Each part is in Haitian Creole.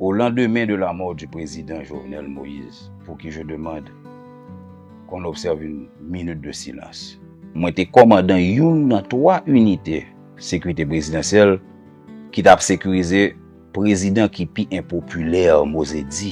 Au lendemain de la mort du président Jovenel Moïse, pour qui je demande qu'on observe une minute de silence. Mwen te kòmandan youn nan 3 inite sekirite prezidansyèl ki t ap sekirize prezidan ki pi enpopilè, Mose di.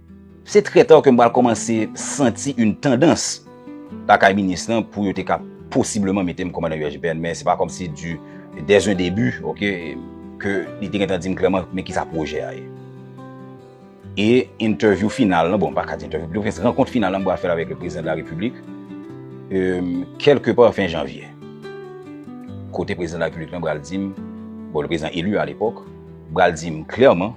Se trè ta ke m pral kòmanse santi yon tandans lakay minis lan pou yo te ka posibleman mete m kòmandan USGPN, men se pa kòm si di dè un debi, ok, ke li te gen tan di m klèman men kisa pwojè a ye. E entèvyou final lan, bon m pa ka di entèvyou, pito gen rankont final lan m pral fè l avèk le Prezidan de la Repiblik, eum, kèlke pa fen janvye. Kote Prezidan de la Repiblik lan pral di m, bon le Prezidan elu a lepòk, pral di m klèman,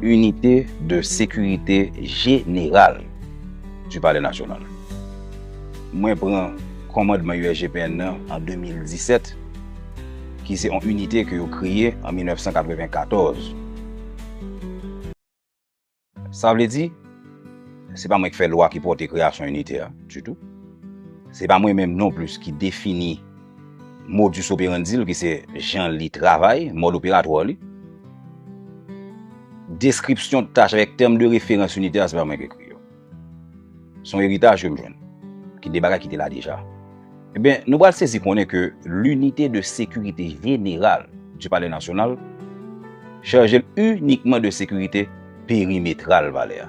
Inite de sekirite jeneral du palè nasyonal. Mwen pran kòmandman USGPN nan an 2017, ki se yon inite ke yo kreye an 1994. Sa vle di, se pa mwen ki fè lwa ki pòte kreyasyon inite a ditou. Se pa mwen menm non plis ki defini. Modus operandi l ki se jan li travay, mòd operatwa li. Deskripsyon tach avèk tèm de referans initè a se pa mwen ki ekri yo. Se yon eritaj ke m jwenn, ki de bagay ki te la deja. Enben, nou pral sezi konnen ke linite de sekirite jeneral di palè nasyonal chaje l inikman de sekirite perimetral palè a.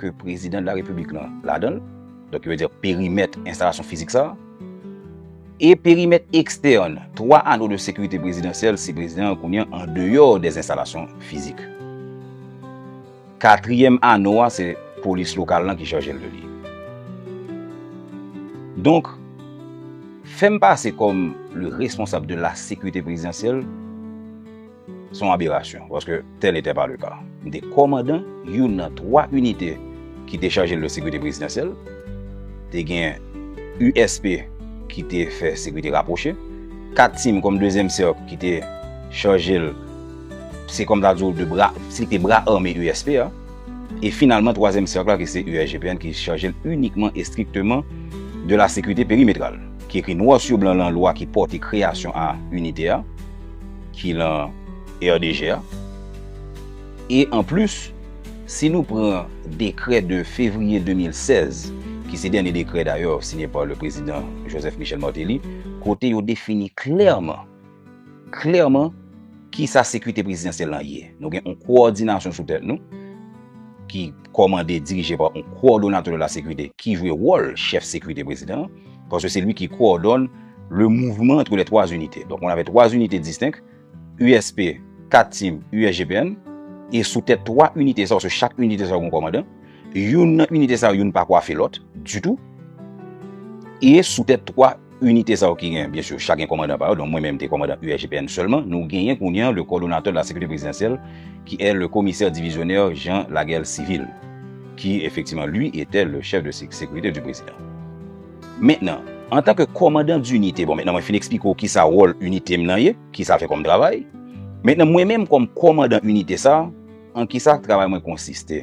ke prezidan de la repiblik lan ladan l, donk yo vle di perimèt enstalasyon fizik sa, e perimèt ekstèn 3 ano de sekirite prezidansyèl si prezidan an kounye an deyò dè enstalasyon fizik. Katriyèm ano a se polis lokal lan ki chaje l de li. Donk, fè m pase kòm le responsab de la sekirite prezidansyèl, Se yon aberasyon, paske tèl n'etè pa le ka. M te kòmandan youn nan 3 inite ki te chaje le sekirite prezidansyèl. Te gen USP ki te fè sekirite rapwoche. 4 tim kòm dezyèm sèk ki te chaje l, se kòm ta di w 2 bra, se te bra ame USP a. E finalman twazyèm sèk la ki se USGPN ki chaje l inikman e estrikteman de la sekirite perimetral, ki ekri nwa su blan lan lwa ki pòte kreyasyon a inite a. ki lan RDG a. E anplis, si nou pran dekrè de fevriye 2016, ki se dènye dekrè dayè siyen pa le prezidan Joseph Michel Martelly, kote yo defini klèman, klèman ki sa sekirite prezidansyèl lan ye. Nou gen yon kowòdinasyon sou tèt nou ki. kòmande, dirije pa yon Kowòdonatè de la Sécurité ki jwe wòl chèf sekirite prezidan an, paske se li ki kowòdòne le mouvman antre les trois unités. Donk, on avè twa inite distenk, USP, kat tim, USGPN, e sou tèt twa inite sa yo, sou chak inite sa yo gen yon kòmandan, youn nan inite sa yo, youn pa kwafe lòt ditou, e sou tèt twa. Inite sa yo ki gen, byen sur, chak gen kòmandan pa yo, donk mwen menm m te kòmandan URGPN sèlman, nou genyen kounye an le Coordonnateur de la Sécurité Présidentielle qui est le Commissaire Divisionnaire Jean Laguerre Civil, qui effectivement lui était le Chef de Sécurité du Président. Mentnan, an tan ke kòmandan d'inite, bon mentnan mwen fin eksplike w kisa wòl inite m nan ye, kisa l fè kòm travay, mentnan mwen menm kòm kòmandan inite sa, an kisa travay mwen konsiste.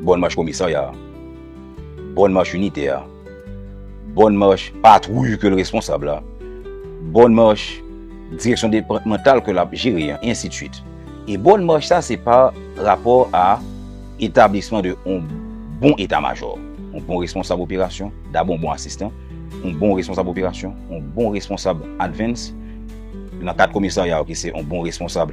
Bòn mach komisarya a. Bòn mach inite a. Bòn mach patwouy ke l responsab la. Bòn mach direksyon depatmantal ke l ap jere an, e ensi de swit. E bòn mach sa se pa rapò a etablisman de yon bon eta majò, yon bon responsab operasyon, dabò yon bon asistan, yon bon responsab operasyon, yon bon responsab advance, nan kad komisarya yo ki se yon bon responsab.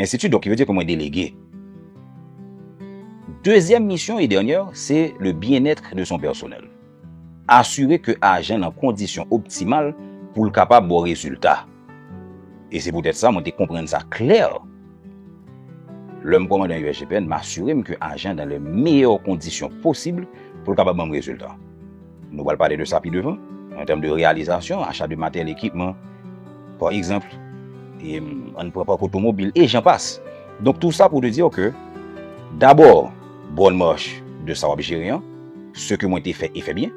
Enstiti donk ki vle di ke mwen delege. Dezyèm misyon e dènyè se le byenètre de son pèsonèl. Asire ke ajan nan kondisyon optimal pou l kapab ba w rezilta. E se poutèt sa mwen te konprann sa klè lè m kòmande nan USGPN, m asire m ke ajan nan le meyè kondisyon posib pou l kapab ban m rezilta. Nou pral pale de sa pi devan, an tèm de reyalizasyon, acha de materyèl, ekipman, pa egzanp, an pran pak otomobil, e jan pas. Donk tou sa pou te di ou ke, dabò, bonne marche de sa w ap jere an, se ke mwen te fè e fè byen,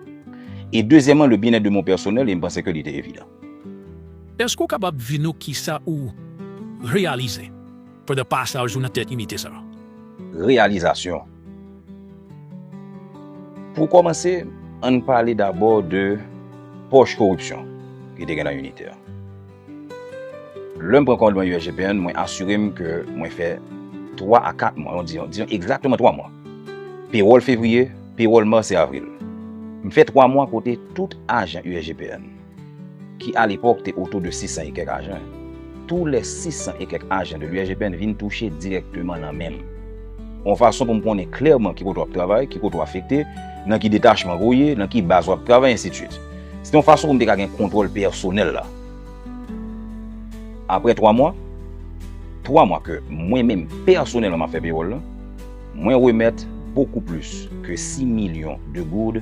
e dezyèman le bien-être de mon personnel, e m panse ke li te evidan. Èske ou kapab di nou kisa ou reyalize? Pandan pasaj ou nan tèt inite sa a. Reyalizasyon Pou kòmanse, ann pale dabò de pòch koripsyon ki te gen nan inite a. Lè m pran kòdonye USGPN, mwen asire m ke mwen fè twa a kat mwa, diyon egzakteman twa mwa, pewòl fevriye, pewòl mas e avril. M fè twa mwa kote tout ajan USGPN. ki alepòk te otou de 600 e kèk ajan, tou lè 600 e kèk ajan de l'URGPN vin touche dirèkteman nan men m. Yon fason pou m konnen klèman ki kote w ap travay, ki kote w afekte, nan ki detachman ou ye, nan ki baz w ap travay, ensitvit. Se te yon fason pou m te ka gen kontwòl pèsonèl la. Apre 3 mwa, 3 mwa ke mwen menm pèsonèlman m ap fè pewòl lan, mwen remèt bokou plis ke 6 milyon de gourd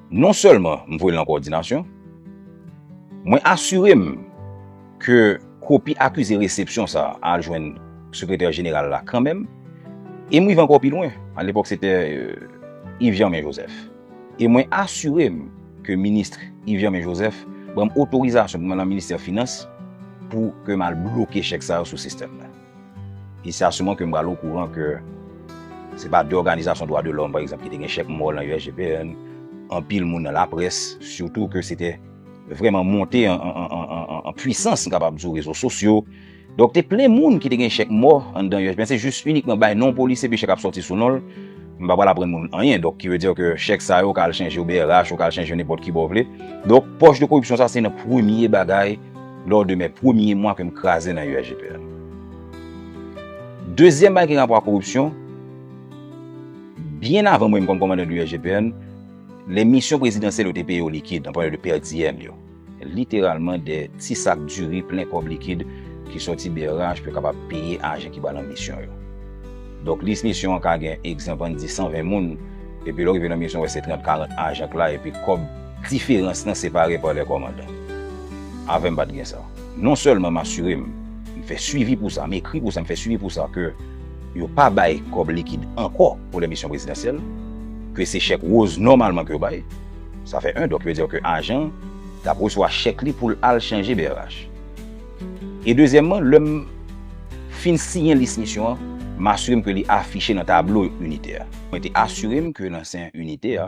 Non sèlman m voye l nan kowòdinasyon, mwen asire m ke kopi akize resepsyon sa a al jwenn Sekretè Jeneral la kanmenm e m rive ankò pi lwen, alepòk se te Yves Germain Joseph, e mwen asire m ke Ministre Yves Germain Joseph ban m otorizasyon pou m al nan Ministè Finans pou ke m al bloke chèk sa yo sou sistèm nan. E se a souman ke m pral okouran ke se pa de òganizasyon dwa de lòm, pa egzanp, ki te gen chèk mò nan USGPN, anpil moun nan laprès, sitou ke se te vrèman monte an pwisans, m kapab di w, rezo sosyo. Donk, te plen moun ki te gen chèk mò anndan USGPN. Se jis inikman bay non polis epi chèk ap soti sou non l. M pa pral aprann moun anyen. Donk, ki vle di ke chèk sa yo ka al chanje yo brh, yo ka al chanje yo nenpòt ki bò w vle. Donk, pòch de koripsyon sa se nan premye bagay. Lò de mè premye mwa ke m kraze nan UAGPL. Dezyèm bagay ki gen rapò ak koripsyon, byen avan mwen m kòm kòmandan UAGPN, lè misyon prezidansyèl yo te peye yo likid, nan pale de pèdiyèm yo, literalman de ti sak diri plen kòb likid ki sòti brh pou yo kapab peye ajan ki ba lan misyon yo. Donk lis misyon an ka gen egzanp ann di 120 moun, epi lè w rive lan misyon wè se 30, 40 ajan k la epi kòb Diferans lan separe pa lè kòmandan. Avè m pa t gen sa. Non sèlman m asire m, m fè swivi pou sa, m ekri pou sa, m fè swivi pou sa ke yo pa bay kòb likid ankò pou lè misyon prezidansyèl, ke se chèk woz nòmalman ke yo bay. Sa fè 1. Donk yo di w ke ajan an t ap resevwa chèk li pou l al chanje brh. E dezyèmman, lè m fin siyen lis misyon an, m asire m ke li afiche nan tablo initè a. Mwen te asire m ke nan sen inite a,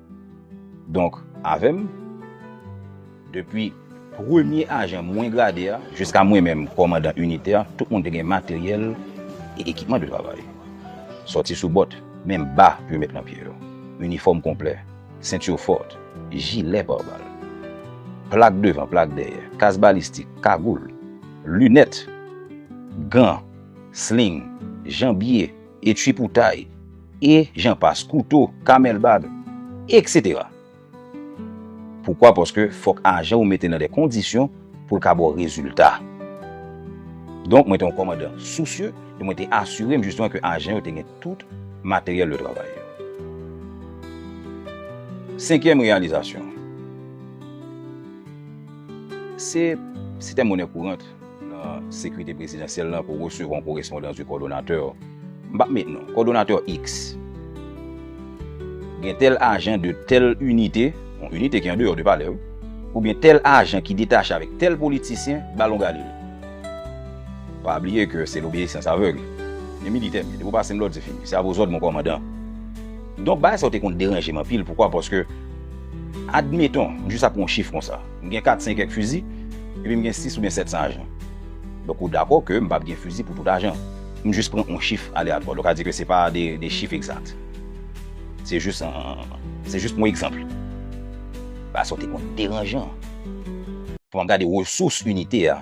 Donk avè m, depi premye ajan mwen grade a jiska mwen menm kòmandan initè, tout moun te gen materyèl e ekipman de travay. Sòti sou bòt, menm ba pou yo met nan pye yo, inifòm konplè, sentur fòt, jilè par bal, plak devan, plak dèyè, kas balistik, kagoul, linèt, gan, sling, janbye, e tripoutay, e jan pas, kouto, kamèl bag, eksetera. Poukwa? Paske fòk ajan ou mete nan de kondisyon pou l ka ba w rezilta. Donk, mwen te yon kòmandan sousye e mwen te asire m jisteman ke ajan yo te gen tout materyèl de travay yo. Senkyèm reyalizasyon, se sistèm monè kourant. nan Sekrite Prezidansyèl la pou resevwa yon korespondans di Kòdonatè. M pa met non. Kòdonatè X. Gen tèl ajan de tèl inite, yon inite ki andeyò de palè wi, oubyen tèl ajan ki detache avèk tèl politisyen, ba l yon galil. Pa bliye ke se lobeyisans avèg. Men militè m, depi w pase m lòd se fini. Se avozòd mon kòmandan. Donk bagay sa yo te konn deranje m anpil, poukwa? Paske, admeton, m jis ap pran yon chif konsa. M gen 4 sen kèk fizi, epi m gen 6 oubyen 7 san ajan. Donk ou dakò ke m pap gen fizi pou tout ajan. M jis pran on chif aleatwa. Donk sa vle di ke se pa de chif egzat. Se jis se jis on egzanpl. Ba sa ou te konn deranjan. Fò an gade resous inite a.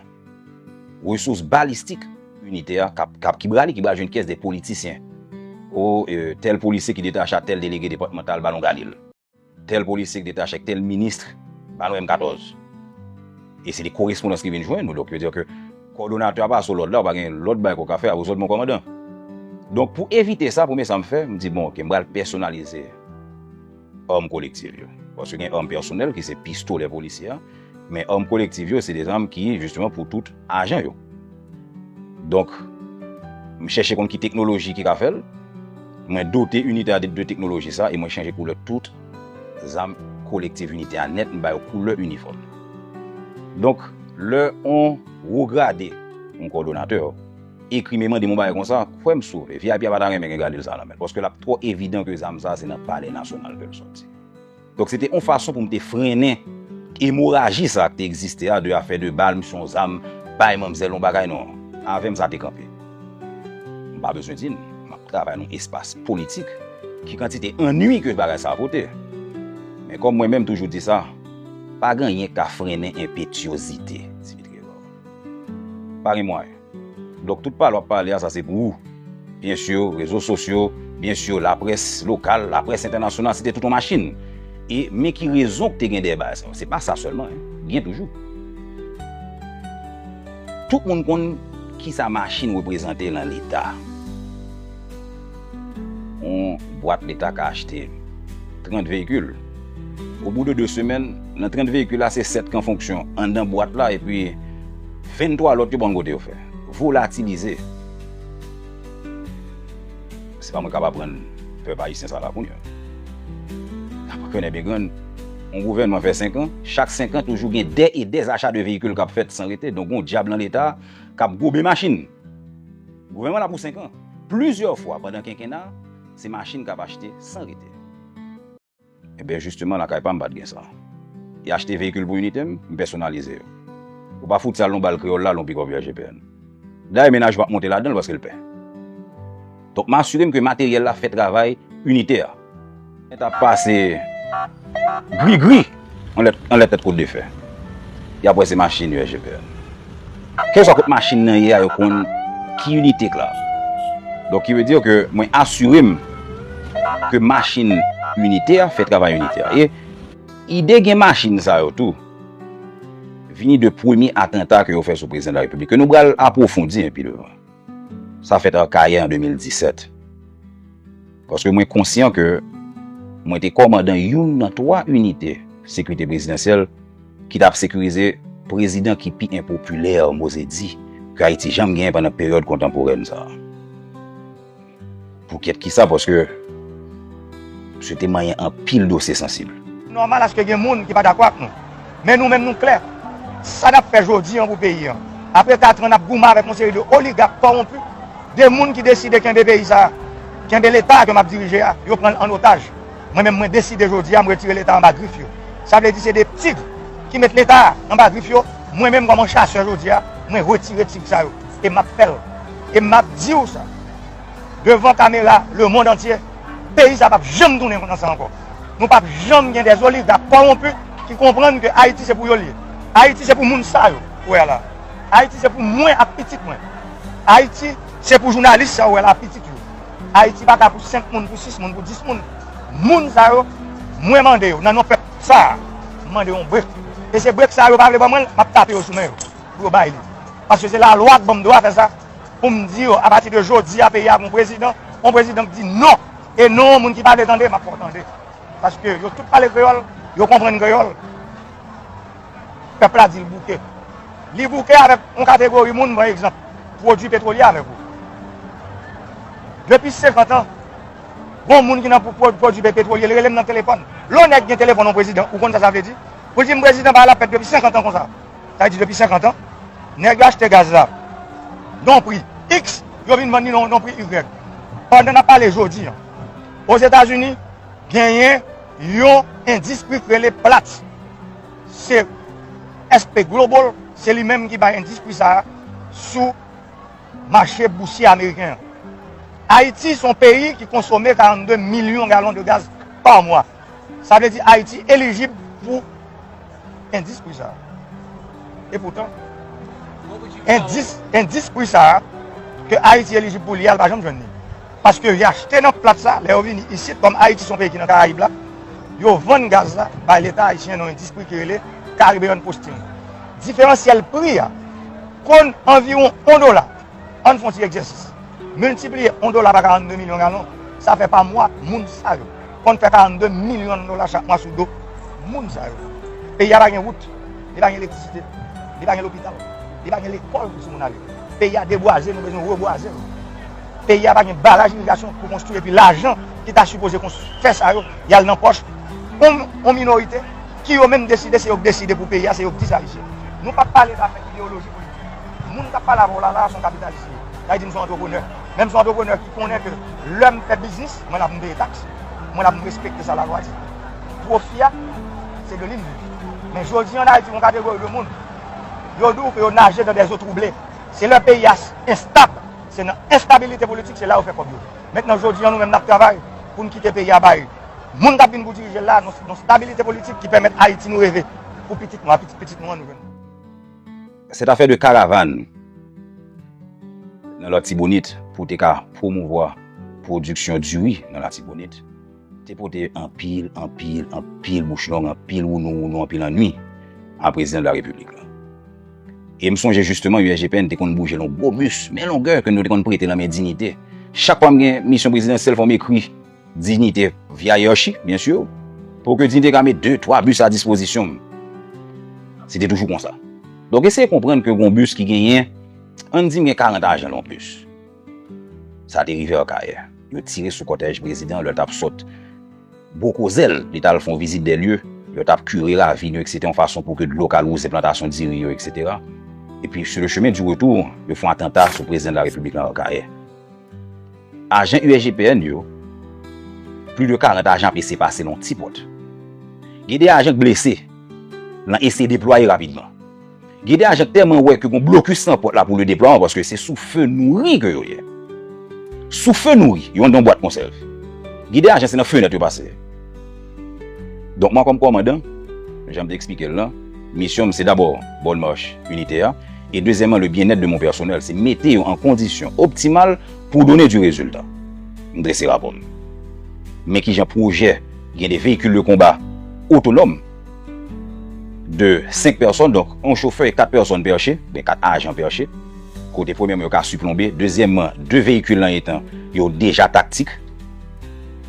Resous balistik inite a kap ki brale ki bal jwenn kès de politisyen. O tèl polisye ki detache a tèl delege depatmantal ba nou gade l. Tèl polisye k detache ak tèl ministre, ba nou M14. E se de korespondans ki vin jwenn nou, donk yo di ke kòdonatè a pa sou lòd la, ou pa gen lòt bagay ke w ka fè a, ou sot bon kòmandan. Donk pou evite sa, premye sa m fè, m di bon ok, m pral pèsonalize arm kolektiv yo. Paske gen arm pèsonèl ki se pistolè polisye a. Men òm kolektiv yo se de zanm ki jisteman pou tout ajan yo. Donk, m chèche konn ki teknoloji ki ka fè l, mwen dote inite a de de teknoloji sa e mwen chanje koulè tout zam kolektiv inite a nèt m ba yo koulè inifòm. Donk, lè on wo grade, on kòdonatè, ekri me mande m on bagay konsa, kwè m sove, vip a pa ta renmen gen gade l sa nan men l paske l ap twò evidan ke zam sa se nan palè nasyonal ke l sòti. Donk se te yon fason pou m te frennen emoraji sa ki te egziste a, de afè de bal, m se yon zam, bay manmzèl yon bagay, non. Avè m sa te kanpe. M pa bezwen di n, m ap travay nan yon espas politik, ki kantite ennui ke bagay sa a pote. Men kòm mwen menm toujou di sa, pa gen anyen ki ka frennen enpetyozite, Dimitri Edward. Pa gen mwayen. Dok tout pale wap pale a sa se pou ou. Byen sur rezo sosyo, byen sur la près lokal, la près entènasyonal se te tout yon machin. E men ki rezon ki te gen dèyè bagay sa yo. Se pa sa sèlman hein. Gen toujou. Tout moun konn kisa machin reprezante lan leta. Yon bwat leta ka achte 30 veyikil. Obou de 2 semèn, nan 30 veyikil la se 7 k an fonksyon anndan bwat la epi 23 lòt yo pa konn kote yo fè. Volatilize. Se pa mwen k ap aprann pèp ayisyen sa la kounya. N ap rekonèt byen grann, yon gouvènman fè 5 an, chak 5 an toujou gen dè e dè acha de veyikil k ap fèt san rete, donk gen yon dyab lan leta k ap gobe machin. Gouvènman an ap pou 5 an. Plizyè fwa pandan kenkena a, se machin k ap achte san rete. Enben jisteman lakay pa m pa t gen sa. Y achte veyikil pou inite m, m pèsonalize yo. Ou pa fout sal yon bal kreyòl la lè yon pikòp yo achte pn. Dayè mennaj m pa t monte ladan l paske l pè. Donk m asire m ke materyèl la fè travay inite a. Mwen ta pase gri gri anlè tèt kout de fè. Yap wè se machin yo SGPN. Kèlkeswa kot machin nan ye a yo konn ki inite k la. Donk ki vle di ke mwen asire m ke machin inite a fè travay inite a. E ide gen machin sa yo tou vini de premye atanta ke yo fè sou prezidan de la repiblik ke nou pral apwofondi pi devan. Sa fèt Akayè an 2017. Paske mwen konsyan ke mwen te kòmandan youn nan 3 inite sekirite prezidansyèl ki tap sekirize prezidan ki pi enpopilè, moze di, ke Ayiti janm genyen pandan peryòd kontanporèn sa a. Pou kèt kisa paske msye te manyen anpil dosye sansib. Nòmal aske gen moun ki pa dakò ak nou. Men nou menm nou klè. Sa nap fè jodi an pou peyi an. Apre 4 an nap goumen avèk yon seri de oligak kòwonpi, de moun ki deside kenbe peyi sa a, kenbe leta a ke map dirije a, yo pranl an otaj. Mwen menm mwen deside jodi a m retire leta anba grif yo. Sa vle di se 2 tig ki met leta a anba grif yo, mwen menm kòm yon chasè jodi a mwen retire tig sa yo. E map fèl. E map diw sa. devan kamera le mond antye, peyi sa pap janm tounen konn sa ankò. Nou pap janm gen des oliga kòwonpi ki konprann ke Ayiti se pou yo li ye. Ayiti se pou moun sa yo ou wè la. Ayiti se pou mwen ak pitit mwen. Ayiti se pou jounalis sa ou wè la ak pitit yo. Ayiti pa ka pou 5 moun, pou 6 moun, pou 10 moun. Moun sa yo, mwen mande yo nan non pèp sa, m mande yon brek. E se brek sa yo pa vle ban mwen l, m ap tape yo sou men yo pou yo bay li. Paske se lalwa k ban m dwa fè sa, pou m di yo apati de jodi a peyi a gen yon prezidan, yon prezidan ki di non, e non moun ki pale tande m ap fè w tande paske yo tout pale kreyòl, yo konprann kreyòl. Pèp la di l bouke. Li bouke avèk yon kategori moun, pa egzanp, pwodui petwolye avèk ou. Depi senkant an, gon moun ki nan pwodui petwolye, li rele m nan telefòn. Lè yon nèg gen telefòn yon prezidan, ou konn sa sa vle di? Pou l di m prezidan pa la pèp depi senkant an konsa. sa vle di depi 50 an, nèg yo achte gaz la yon pri X, yo vin vann li yon pri Y. Pandan n ap pale jodi an, Ozetazini genyen yon endis pri k rele Platts. Se SP Global, se li menm ki bay endis pri sa a sou mache bousye ameriken an. Ayiti se yon peyi ki konsome 42 milyon galon de gaz pa mwa. Sa vle di Ayiti elijib pou. Endis pri sa a. Epoutan, endis pri sa a ke Ayiti elijib pou li a, l pa janm jwenn li. Paske li achte nan plat sa, lè yo vini isit, kòm Ayiti se yon peyi ki nan Karayib la, yo vann gaz la bay Leta ayisyen nan endis pri ki rele Caribbean Posting. Diferansyèl pri a konn anviwon on dola. Ann fon ti egzèsis. Miltipliye 1 dola pa 42 milyon galon, sa fè pa mwa moun sa yo konn fè 42 milyon dola chak mwa sou do moun sa yo. Peyi a pa gen wout, li pa gen elektrisite, li pa gen lopital, li pa gen lekòl pou timoun ale. Peyi a debwaze, nou bezwen rebwaze l. Peyi a pa gen baraj irigasyon pou konstwi epi lajan ki ta sipoze konstwi fè sa yo, y al nan pòch yon minorite ki yo menm deside se yo k deside pou peyi a, se yo k di sa li se. Nou pa p pale zafè ideyoloji politik. Moun kap pale avè w la la son kapitalis li ye. Sa vle di m son antreprenè. Men m son antreprenè ki konnen ke lè m fè biznis, mwen la pou m peye taks. Mwen la pou m respekte sa lalwa di. Pwofi a, se de li m viv. Men jodi an Ayiti gon kategori de moun, yo di w ke yo naje dan dèzo twouble. Se lè peyi a enstab, se nan enstabilite politik, se la yo fè kòb yo. Mentnan jodi an nou menm n ap travay pou n kite peyi a bay moun kap vin pou dirije l la yon stabilite politik ki pèmèt Ayiti nou reve pou pitit nou a, pitit pitit nou an nou jwenn. Se ta fè 2 karavan nan Latibonit pou te ka pwomouvwa pwodiksyon diri nan Latibonit te pote anpil, anpil, anpil bouch long, anpil wounou wounou, anpil annui a Prezidan de la Repiblik la. E m sonje jisteman USGPN te konn bouje l on gwo bis men longè ke nou te konn prete nan men Dinite. Chak fwa m gen misyon prezidansyèl fò m ekri. Dignité via Hiérarchie, bien sûr, pou ke Dignité ka met 2, 3 bus a dispozisyon m. Se te toujou konsa. Donk eseye konprann ke gon bus ki genyen, ann di m gen 40 ajan lan yon bus. Sa te rive Akayè. Yo tire sou kòtèj prezidan lè l t ap sot Gwo Kozè l, li t al fè yon vizit dè lye, yo t ap kire ravin yo ekse te yon fason pou ke dlo ka wouze plantasyon diri yo eksetera. Epi sou le chemen di retou, yo fè yon atanta sou prezidan de la Repiblik lan Akayè. Ajan USGPN yo, plis de 40 ajan ap eseye pase nan yon ti pòt. Gen 2 ajan ki blese nan eseye deplwaye rapidman. Gen 2 ajan ki tèlman wè ke gen yon blokis nan pòt la pou le deplwaman paske se sou fe nouri ke yo ye. Sou fe nouri, yo andan yon bwat konsèv. Gen 2 ajan se nan fenèt yo pase. Donk mwen kòm kòmandan, jan m te eksplike l lan, misyon m se dabò bonne marche inite a, e dezyèman le bien-être de mon personnel, se mete yo an kondisyon optimal pou donner du résultat. M drese rapò m. Men kijan pwojè gen 2 véhicules de combat autonomes de 5 pèsòn, donk yon chofè e 4 pèsòn pèche, oubyen 4 ajan pèche, kote premyèman yo ka siplonbe, dezyèman 2 vehicule lan etan yo deja taktik.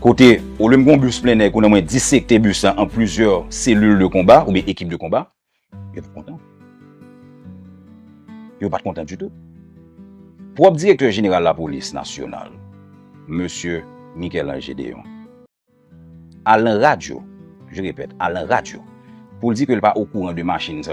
Kote, olye m gen yon bus plennen, kounye a mwen disekte bus la an plizyè selil de konba oubyen ekip de konba, yo pa t kontan. Yo pa t kontan ditou. Pwòp direktè jeneral lapolis nasyonal, mesye Michel-Ange Gédéon, al nan radyo, je repèt, al nan radyo pou l di ke l pa okouran de machin sa yo.